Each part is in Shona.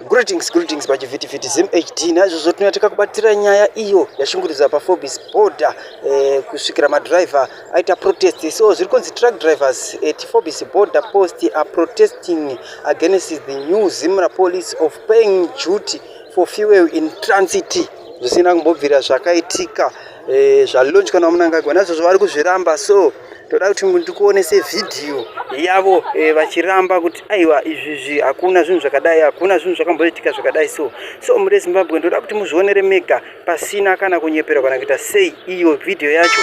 Greetings, greetings pachivhitivhiti ZimHD. Naizvozvo tinouya tikakubatira nyaya iyo yashungurudzwa paForbes border eh, kusvikira madriver aita protest. So zviri kunzi truck drivers at Forbes border post are protesting against the new Zimra police of paying duty for fuel in transit zvisina kumbobvira zvakaitika Eh, zvalunch kana munangagwa nazvozvo vari kuzviramba so toda kuti ndikuonese vhidhiyo yavo eh, vachiramba kuti aiwa izvizvi hakuna zvinhu zvakadai hakuna zvinhu zvakamboitika zvakadai so so muri zimbabwe ndoda kuti muzvionere mega pasina kana kunyepera kana kuita sei iyo vhidhiyo yacho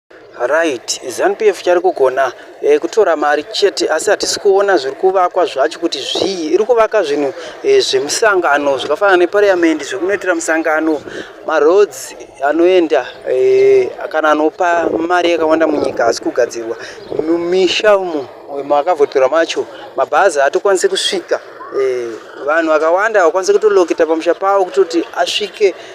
Right, ZanuPF chari kugona eh, kutora mari chete asi hatisi kuona zviri kuvakwa zvacho kuti zvii. Iri kuvaka zvinhu eh, zvemusangano zvakafanana nepariyamendi zvekunoitira musangano, maroads anoenda eh, kana anopa mari yakawanda munyika asi kugadzirwa mumisha umo eh, makavhotora macho mabhazi haatokwanisi kusvika eh, vanhu vakawanda havakwanisi kutolokita pamusha pavo kutoti asvike